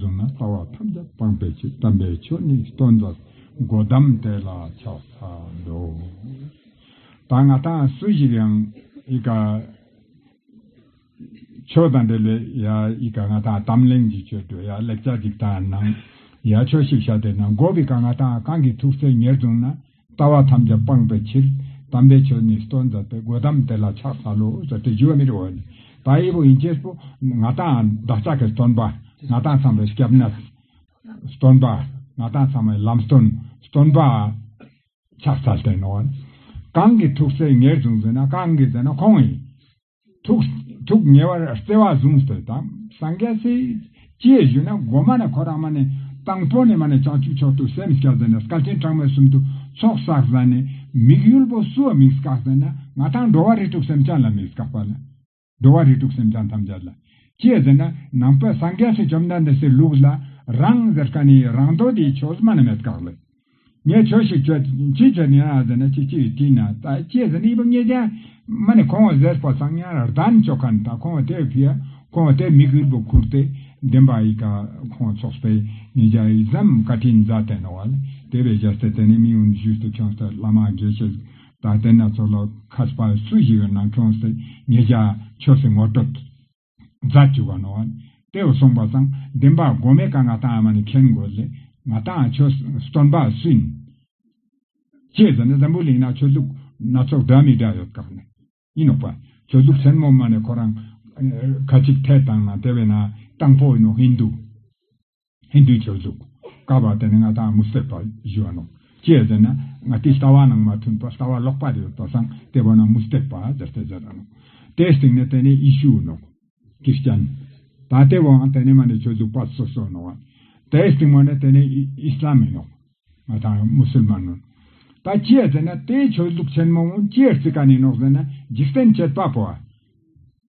གཟུགས་ན་ལྟ་བ་ཐམས་ཅད་སྤངས་པའི་ཕྱིར་དམ་པའི་ཆོས་ནི་སྟོན་པར་སྒོ་བསྡམ་དེ་ལ་ཕྱག་འཚལ་ལོ། ད་སྔ་དང་སུ་ཞིག་ཡང་ཨི་ཀ། ཆོས་དང་འབྲེལ་བའི་ཡ་ཨི་ཀ་ང་དང་དམ་གླིང་གི་ཆོས་སྒྲོས་ཡ་ལེགས་བྱ་གཅིག་དང་ནང་ཡ་ཆོས་ཤིག་བྱ་དེ་ནང་སྒོ་གི་ཀ་ང་དང་གང་གི་ཐུགས་སྲས་ཉེར་བཟུང་ན། ལྟ་བ་ཐམས་ཅད་སྤངས་པའི་ཕྱིར། དམ་པའི་ཆོས་ནི་སྟོན་མཛད་པའི་སྒོས་དམ་དེ་ལ་ཕྱག་འཚལ་ལོ། ཟེར་ཏེ་བཞུགས་པ་མི་རིགས་འོད་དང་དབྱེ་བ་ཡིན་ཅེས་སོ། ང་དང་བདག་ཅག་གི་སྟོན་པ། ང་དང་ཚངས་པའི་སྐྱབས་གནས། སྟོན་པ། ང་དང་ཚངས་པའི་ལམ་སྟོན། སྟོན་པ། ཕྱག་འཚལ་བསྟེན་ནོ། གང་གིས་ཐུགས་སྲས་ངེས་བཟུང་ཟིན་ན་གང་གིས་མཛད་ན་ཁོང་ཡིན། ཐུགས་ཉེ་བར་བརྩེ་བ་བཟུང་ཟེར་དང་སངས་རྒྱས་ཚེ་སྐྱེས་བཞུགས་ན་སྒོ་མ་ནས་ཁོ་རང་མ་ནས་དང་པོ་ནས་མ་ནས་བྱང་ཆུབ་མཆོག་ཏུ་སེམས་སྐྱ་ཟེར་ན་སྐལ་ཆེན་གྲངས་མེད་གསུམ་དུ་ཚོགས་བསགས་ཟ་ནས་མིག་ཡུལ་པོ་བསུ་བ་མིག་བསྐགས་ཟེར་ན་ང་དང་འགྲོ་བ་རིགས་དྲུག་སེམས་ཅན་ལ་མིག་བསྐགས་པ་ལ། འགྲོ་བ་རིགས་དྲུག་སེམས་ཅན་ཐམས་ཅད་ལ་སྐྱེས་ཟེར་ན་ནང་པའི་སངས་རྒྱས་ཚེ་བཅོམ་ལྡན་འདས་སའི་ལུགས་ལ་རང་ཟེར་ཀ་ནི་རང་མདོ་སྡེའི་ཆོས་སྨྲ་ན་མེད་བསྐགས་ལ། ངས་ཆོས་ཤིག་བྱོས། ཅི་བྱས་ནས་ཨ་ཟེར་ན་ཅི་བྱེད་ཡོད་དྲིས་ན། ད་ཅེས་ཟེར་ནས་ཡིད་པ་ངེས་ཀྱང། མ་ནི་ཁོང་ཟེར་ཕོ་སང་ཉའི་ར་ལྡན་ཆོ་ག་ནི་ད་ཁོང་བ་དེས་ཕུལ། ཁོང་བ་དེས་མི་གུས་སྦུ་ཁུར་ཏེ་བདེན་པ་ཡི་ག་ཁོང་བ་ཚོགས་པའི་ངེད་ཅག་ཡིག་ཟམ་བཀའ་དྲིན་རྫ་བསྟན་ནོ་བ་ལ་དེ་བས་ཞབས་སྟེར་དེ་ནས་མིང་ཨུན་ཞུས་ཏེ་ཁྱོད་སྟེ་བླ་མ་དགེ་བཤེས་རྫ་བསྟན་སྣ་ཚོགས་ལ་ཁ་སྤ་སུ་ཞིག་ཡོད་ན་ཁྱོད་སྟེ་ངེད་ཅག་ཆོས་སྲིད་ངོ་སྤྲོད། རྫ་བཅུ་བ་ནོ། དེའོ་གསུངས་པ་དང་ལྡན་པ་སྒོ་མེ་ཀ་ང་དང་ཨ་མ་ནི་མཁན་དགོས་ལས་ང་དང་ཁྱོད་སྟོན་པ་སུན། ཅེས་ཟེར་ནས་འཛམ་བུའི་གླིང་ན་ཆོས་ལུགས་སྣ་ཚོགས་འདྲ་མི་འདྲ་ཡོད་དཀའ་ནི་ཡིན་ནོ། ཆོས་ལུགས་ཆེན་མོ་མ་ནི་ཁོ་རང་ཁ་ཅིག་ཐལ་དང་ན་དེ་བས་ན་དང་པོ་ཡིན་ནོ་ཧིན་དུ། ཧིན་དུའི་ཆོས་གཟུགས། བསྐལ་པ་དེ་ནི་ང་དང་མི་སྲིད་པར་བཞི་བ་ནོ། ཅེས་ཟེར་ན། ང་དེའི་ལྟ་བ་རྣམས་མ་མཐུན་པར་ལྟ་བ་ལོག་པར་ཡོད་པར་སངས་ཏེ་བ་རྣམས་མུ་སྟེགས་པ་དེ་སྟེ་བརྒྱད་དང་ནོ། དེའི་སྟེང་ནས་དེ་ནི་ཡེ་ཤུའི་ནོ། ཀྱི་སྤྱན། ད་ལྟའི་བའང་དེ་ནི་མ་ནི་ཆོས་གཟུགས་པ་སོ་སོའི་ནོ། དེའི་སྟེང་མ་ནི་དེ་ནི་ཨི་སི་ལམ་མིན་ནོ། ང་དང་མུ་སུལ་མན་ནོ། ད་ཅེས་ཟེར་ན་དེའི་ཆོས་གཟུགས་ཆེན་མོའང་ཅེར་ཙི་ཀ་ནས་ནོ་ཟེར་ན་འཇིག་རྟེན་བསྐྱེད་པ་པོ་བ།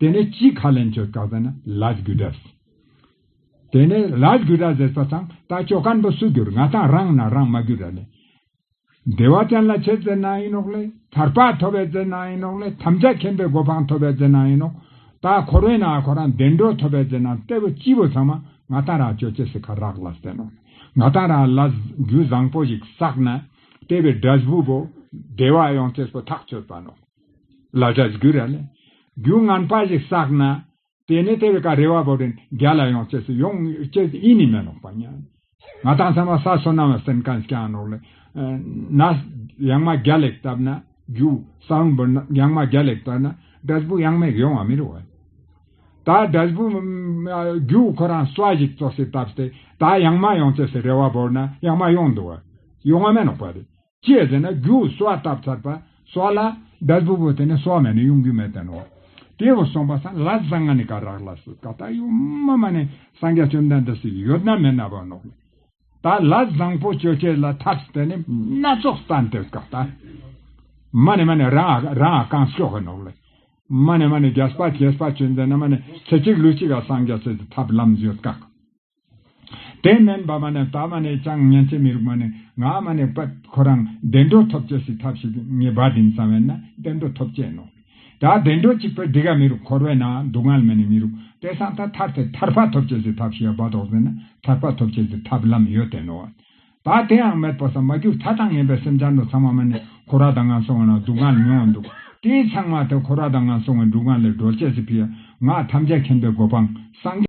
དེ་ནས་སྤྱིའི་ཁ་ལེན་ཆོས་བཀའ་ཟེར་ན Raj Gujars། དེ་ནས Raj Gujars ཟེར་ས་དང་ད་ཆོས་བཀའ་འདི་སུ་འགྱུར་ང་དང་རང་ན་རང་མ་འགྱུར་ར་ལས། བདེ་བ་ཅན་ལ་ཆེ་བཙལ་གནང་ཡིན་ནོག་ལས་ཐར་པ་ཐོབ་བས་བཙལ་གནང་ཡིན་ནོག་ལས་དམ་བཅའ་མཁྱེན་པའི་གོ་འཕང་ཐོབ་བས་བཙལ་གནང་ཡིན་ནོག་ད་ཁོ་རོན་ན་ཁོ་རང་བདེ་འགྲོ་ཐོབ་བས་བཙལ་གནང་གཏེ་བོ་སྤྱི་བོ་ཚང་མ་ང་དང་རང་ཆོས་ཆེ་སི་ཁ་རག་ལ་ཟེར་ནོག་ལས་ང་དང་རང་ལ་རྒྱུད་བཟང་པོ་ཞིག་བསགས་ན་གཏེ་བའི་སྒྲ་བཞི་པོ་བདེ་བ་ཡོངས་ཆེ་སོ་ཐག་ཆོད་པ་ནོག། ལ་བྱ་རྒྱུ་ར་ནི་རྒྱུ་ངན་པ་ཞིག་བསགས་ན། དེ་ནས་དེ་བས་ཀ་རེ་བ་བོ་རེ་རྒྱ་ལ་ཡོང་ཆེད་སུ་ཡོང་ཆེད་ཡེ་ནས་མི་ལོག་པ་ཉན། ང་དང་ཚང་མ་ས་སོ་ནམ་བ་སེན་ཀན་སྐྱང་ནོག་ལེ། ན། ཡང་མ་རྒྱ་ལེགས་བཏབ་ན་རྒྱུ། ས་བོན་འབུར་ན་ཡང་མ་རྒྱ་ལེགས་བཏབ་ན་སྒྲ་སྦུག་ཡང་མེག་ཡོང་བ་མི་རུ་བ། ད་སྒྲ་སྦུག་རྒྱུ་ཁོ་རང་སོ་ཞིག་བཙོ་སེ་བཏབ་སྟེ་ད་ཡང་མ་ཡོང་ཆེད་སུ་རེ་བ་བོར་ན་ཡང་མ་ཡོང་འདུག་བ་ཡོང་བ་མེ་ནོག་པ་རེད། ཅེས་ཟེར་ན་རྒྱུ་བོ་སོ་བ་བཏབ་ཚར་པ་སོགས་ལ་བཟླས་བུ་བོ་དེ་ནས་སོ་བ་མེད་ན་དབྱུང་རྒྱུ་མེད་པས་ནོ། དེ་བས་གསུངས་པ་ས་ལ་བཟང་ང་ནི་ཀ་རག་ལ་སུ་ཀ་ད་ཡུ་མ་མ་ནི་སངས་རྒྱ་བཅོམ་ལྡན་འདས་སུ་ཡོད་ན་མེད་ན་བ་ནོ། ད་ལ་བཟང་པོ་སྤྱོད་བྱེད་ལ་ཐབས་སུ་དེ་ནི་སྣ་ཚོགས་ས་འདིར་ཀ་ད་མ་ནི་མ་ནི་རང་ཨ་རང་ཨ་གང་ཤོག་གི་ནོ། མ་ནི་མ་ནི་བརྒྱ་སྤ་བྱེ་སྤ་ཆོས་མཛད་ན་མ་ནི་ཚེ་གཅིག་ལུས་གཅིག་ལ་སངས་རྒྱ་བྱེད་ཀྱི་ཐབས་ལམ་ཡོད་དཀའ། དེ་མིན་བ་མ་ནས་དག་མ་ནས་ཅང་མཉན་ཆས་མི་རུག་མ་ནས་ངག་མ་ནས་པད་ཁོ་རང་བདེ་འགྲོ་ཐོབ་བྱས་སི་ཐབས་ཤིག་ངེས་བ་དིན་བསམ་བས་ན་བདེ་འགྲོ་ཐོབ་བྱས་ནོ། དག་བདེ་འགྲོ་གཅིག་པའི་དི་ག་མི་རུག་འཁོར་བས་ན་སྡུག་བསྔལ་མི་ནས་མི་རུག་དེ་སང་ཐ་ཐར་ཐད་ཐར་པ་ཐོབ་བྱས་སི་ཐབས་ཤིག་ཡ་བ་དོག་ཟིན་ན་ཐར་པ་ཐོབ་བྱས་སི་ཐབས་ལམ་ཡོད་དེ་ནོ། དག་དེའང་མེད་པ་སང་མ་གྱུར་ད་དང་ངན་པའི་སེམས་ཅང་དུ་ཚང་མ་མ་ནས་འཁོར་བ་དང་ངན་སོང་བ་ན་སྡུག་བསྔལ་མྱོང་བ་འདུག་དེའི་ཚང་མ་དེ་འཁོར་བ་དང་ངན་སོང་བའི་འགྲུག་བསྔལ་ལས་སྒྲོལ་བྱས་སི་ཕི་ཡ། ངག་ཐམས་ཅད་མཁྱེན་པའི་གོ་འཕང་སངས།